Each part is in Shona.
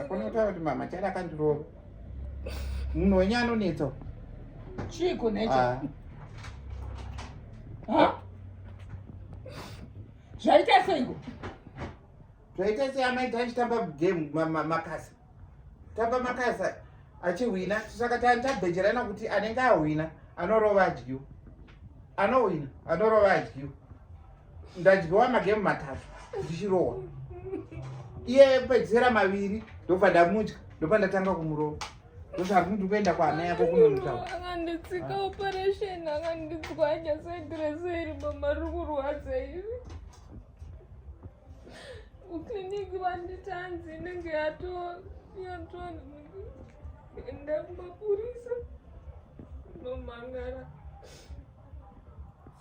akonotaura kuti mama chada akandirova munhu wenye anonetsa chiiko necho ah. zvaita seiko zvaita sei amai tachitamba game makasi tamba makasa achihwina saka tabhejerana kuti anenge ahwina anorova adyiwa anohwina anorova adyiwa ndadyiwa magemu matatu ndichirohwa iye pedzisera maviri ndobva ndamudya ndobva ndatanga kumurova ndozvati ndi kuenda kwaana yako kunonotaura akanditsika operation akanditswanya saidreseri mama ri kurwadza iri kuclinic vanditanzi inenge yatoenda kumapurisa nomhangara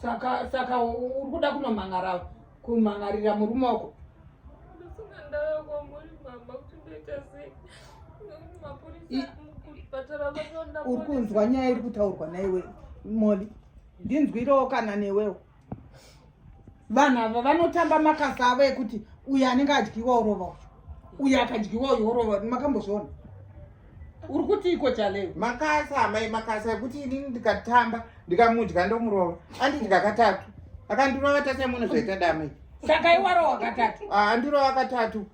saka saka uri kuda kunomhangara kumhangarira murume wako ndisina ndava kwamuri mama kuti ndoita sei mapurisa kuchipatara vanoona uri kunzwa nyaya iri kutaurwa naiwe moli ndinzwirewo kana newewo vanhu ava vanotamba makasa avo ekuti uyo anenge adyiwa orova uyo uyo akadyiwa uyo orova makambozviona uri kuti iko chaleo makasa amai makasa ekuti inini ndikatamba ndikamudya ndomurova andidya katatu akandirova tasaimona zvaita damai saka iwarowa katatu andirova katatu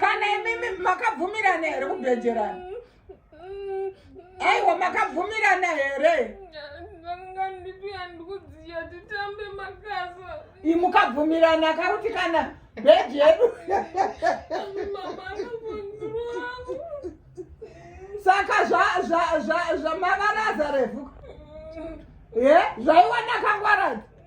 kana imimi makabvumirana here kubhejerana aiwa makabvumirana here imukabvumirana kakuti kana bheji yedu saka zvamavaraza refu ye zvaiwana kangwaradzi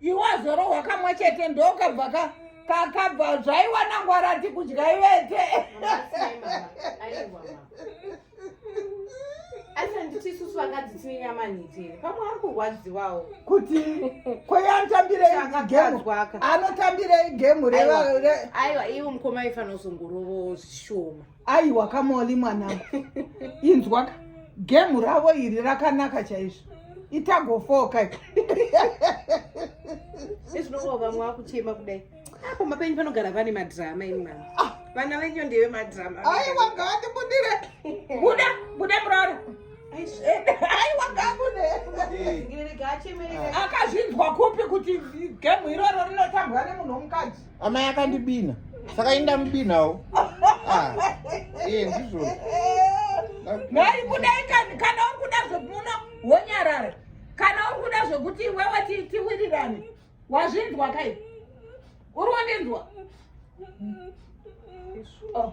iwe azorohwa kamwe chete ndokabva ka kakabva zvaiwanangwa rati kudya ivete asi handiti isusu vakadzi tine nyama nitini pamwe ari kurwadziwawo kuti kweanotambirei gemu anotambirei gemu aiwa iwe mukoma aifanozongorovo zvishoma aiwa kamoli mwanangu inzwaka gemu ravo iri rakanaka chaizvo itagofoka ezvinovo vamwe vakuchema kudai apo mapenyu panogara vane madrama ini mama ah. vana venyu ndeve madrama aiwa ngavatibudire buda buda murara aiwa ngabude akazvinzwa kupi kuti gemu iroro rinotambwa nemunhu womukadzi amai akandibina saka ini ndamubinawo ah, iye ndizvo nhai kudai kana uri kuda zvomuno wonyarara kana uri kuda zvokuti iwewe tiwirirane wazvinzwa kai uri wondinzwa oh.